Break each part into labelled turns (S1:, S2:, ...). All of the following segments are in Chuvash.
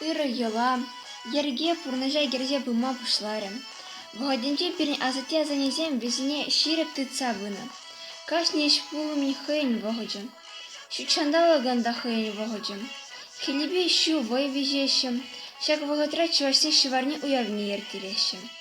S1: Ырӑ йӑла, йӗрке пурнӑҫа кӗрсе пыма пуҫларӗ. Вӑхӑтӗнче пирӗн асатте-асаннесем вӗсене ҫирӗп тытса пынӑ. Кашни ӗҫ пулӑмӗн хӑйӗн вӑхӑчӗ. Ҫутҫанталӑкӑн та хӑйӗн вӑхӑчӗ. Хӗллепе ҫу вӑй виҫеҫҫӗ. Ҫак вӑхӑтра чӑвашсен ҫӑварне уявне йӗркелеҫҫӗ.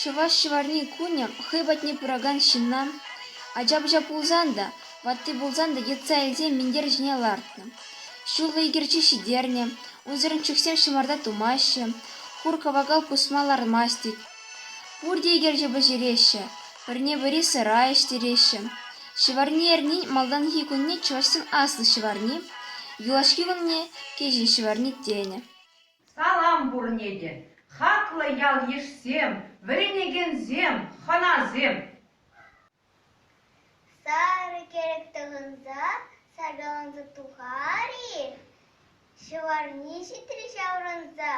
S1: Чӑваш ҫӑварни кунӗ хӑй патне пыракан ҫынна, ача-пӑча пулсан та, ватти пулсан та йӑтса илсе минтер ҫине лартнӑ. Ҫуллӑ икерчи ҫитернӗ, унсӑрӑн чӳхсем ҫӑмарта тумаҫҫӗ, хур-кӑвакал пусма лармасть тет. Пурте икерче пӗҫереҫҫӗ, пӗрне-пӗри сӑра ӗҫтереҫҫӗ. Ҫӑварни эрнин малтанхи кунне чӑвашсен аслӑ ҫӑварни, юлашки кунне кӗҫӗн ҫӑварни тенӗ. Салам
S2: пурне те, хаклӑ ял-йышсем, вӗренекенсем, хӑнасем!
S3: Сарӑ кӗрӗк тӑхӑнса саркаланса тухар-и? Ҫӑварни ҫитрӗ ҫаврӑнса.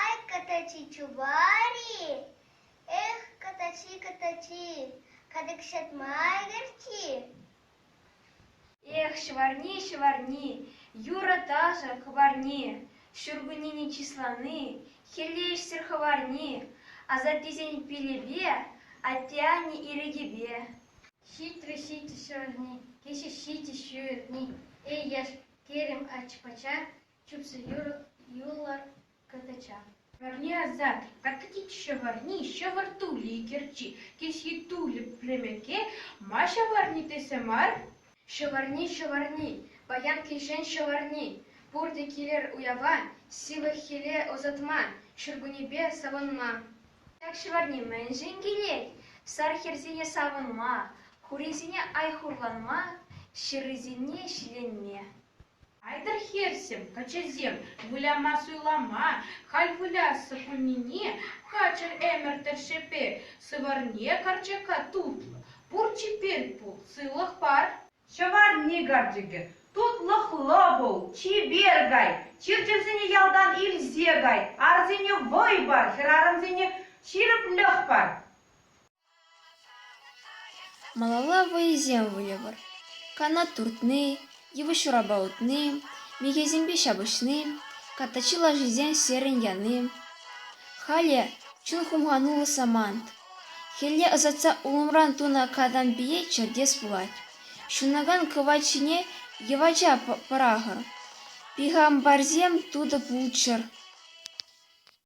S3: Ай, катачи, чупар-и? Эх, катачи, катачи, катӑк ҫатма ӗгӗрчи!
S1: Эх, ҫӑварни, ҫӑварни, юрӑ-ташӑ хӑварни, ҫуркуннене чыслани, хӗлле ӗҫсӗр хӑварни, асаттесен пилӗпе, атте-анне ирӗкӗпе. Ҫитрӗ
S4: ҫити ҫырни, кӗҫӗ ҫити ҫырни, эй яш-кӗрӗм ача-пӑча, чупсу юлӑр Кӑтӑча. Варне
S2: асат, катӑтить ҫӑвӑрни, ҫӑвӑр тули кӗрчи, кӗсйи тулӗ премӗке, ма ҫӑвӑрни тесе мар? Ҫӑвӑрни,
S4: ҫӑвӑрни, паян килҫен ҫӑвӑрни, пурте килӗр уява, сивӗ-хӗле ӑсатма, ҫуркуннепе савӑнма. Ҫак ҫӑвӑрни
S1: мӗншӗн килет? Сар хӗрсене савӑнма, хурисене ай хурланма, ҫыррисене ҫиленме. Айтӑр
S2: хӗрсем, каччӑсем, выляма-суйлама, халь вылясса кунне хачӑр ӗмӗр тӗршшӗпе сыварне карчака тутлӑ, пур чипер пул, сывлӑх пар. Ҫӑварни карчӑкӗ, тутлӑхлӑ пул, чипер кай, чир-чӗрсене ялтан илсе кай, арсене вӑй пар, хӗрарӑмсене ҫирӗплӗх пар.
S1: Малалла вӑйӑсем выльӑпӑр: канат туртни, йывӑҫ урапа утни, михӗсемпе ҫапӑҫни, картачи лашисен серӗн яни. Халӗ чун хумхануллӑ самант. Хӗлле ӑсатса улӑмран тунӑ катампие чӗртес пулать. Ҫунакан кӑвайт ҫине йӑвача пӑрахӑр. Пихампарсем тутӑ пулччӑр.